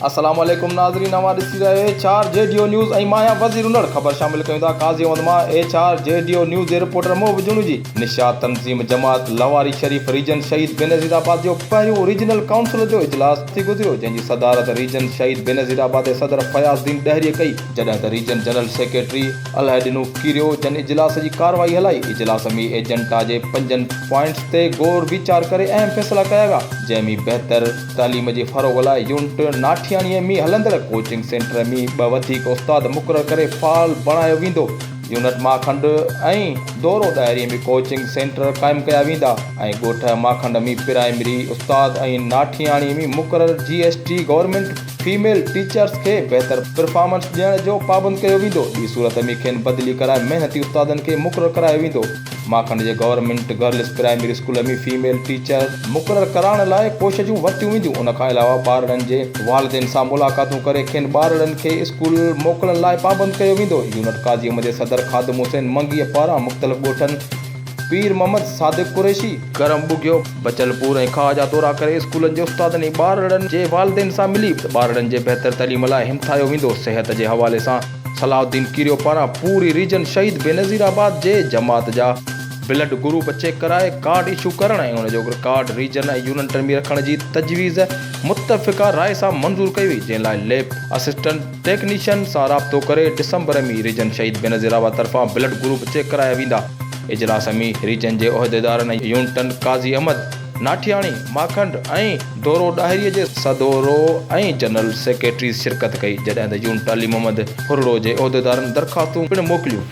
السلام عليڪم ناظرين اوهان ڏسي رهيا آهيو ايڇ آر جي ڊيو نيوز ۽ مان آهيان وزير انڙ خبر شامل ڪيون ٿا قاضي احمد مان ايڇ آر جي ڊيو نيوز جي رپورٽر محب جوڻيجي نشاد تنظيم جماعت لواري شريف ريجن شهيد بينظير آباد جو پهريون ريجنل ڪائونسل جو اجلاس ٿي گذريو جنهن جي صدارت ريجن شهيد بينظير آباد جي صدر فياض الدين ڏهري ڪئي جڏهن ته region general secretary Allah Dino Kerio جن اجلاس جي ڪارروائي هلائي، اجلاس ۾ ايجنڊا جي پنجن پوائنٽس تي غور ويچار ڪري اهم فيصلا ڪيا ويا، جنهن ۾ بهتر تعليم جي فروغ لاء يونٽ ناٺياڻي ۾ هلندڙ ڪوچنگ سينٽر ۾ ٻه وڌيڪ استاد مقرر ڪري فعال بڻايو ويندو، يونٽ ماکنڊ ۽ دورو ڏاهري ۾ ڪوچنگ سينٽر قائم ڪيا ويندا ۽ ڳوٺ ماکنڊ ۾ پرائمري استاد ۽ ناٺياڻي ۾ مقرر J S T government female teachers کي بهتر پرفارمنس ڏيڻ جو پابند ڪيو ويندو، ٻي صورت ۾ کين بدلي ڪرائي محنتي استادن کي مقرر ڪرايو ويندو، ماکڻ جي government girls primary school ۾ female teacher. مقرر ڪرائڻ لاء ڪوششون ورتيون وينديون، ان کان علاوه ٻارڙن جي والدين سان ملاقاتون ڪري کين ٻارڙن کي اسڪول موڪلڻ لاء پابند ڪيو ويندو، يونٽ قاضي احمد جي صدر خادم حسين منگيء پاران مختلف ڳوٺن. پير محمد صادق قريشي، ڪرم ٻگهيو، بچل پور ۽ کاهه جا دورا ڪري اسڪولن جي استادن ۽ ٻارڙن جي والدين سان ملي ٻارڙن جي بهتر تعليم لاء همٿايو ويندو صحت جي حوالي سان صلاح الدين ڪيريو پاران پوري ريجن شهيد بينظير آباد جي جماعت جا بلڊ گروپ چيڪ ڪرائي ڪارڊ ايشو ڪرڻ ۽ ان جو ڪارڊ ريجن ۽ يونٽن ۾ رکڻ جي تجويز متفقه راء سان منظور ڪئي وئي جنهن لاء ليب اسسٽنٽ. ٽيڪنيشن سان رابطو ڪري December ۾ region Shaheed Benazirabad طرفان بلڊ گروپ چيڪ ڪرايا ويندا. اجلاس ۾ ريجن جي عهديدارن ۽ يونٽن قاضي احمد، ناٺياڻي، ماکنڊ ۽ ڍورو ڏاهري جي سڌورو ۽ جنرل سيڪريٽريز شرڪت ڪئي جڏهن ته يونٽ علي محمد ڦرڙو جي عهديدارن درخواستون پڻ موڪليون.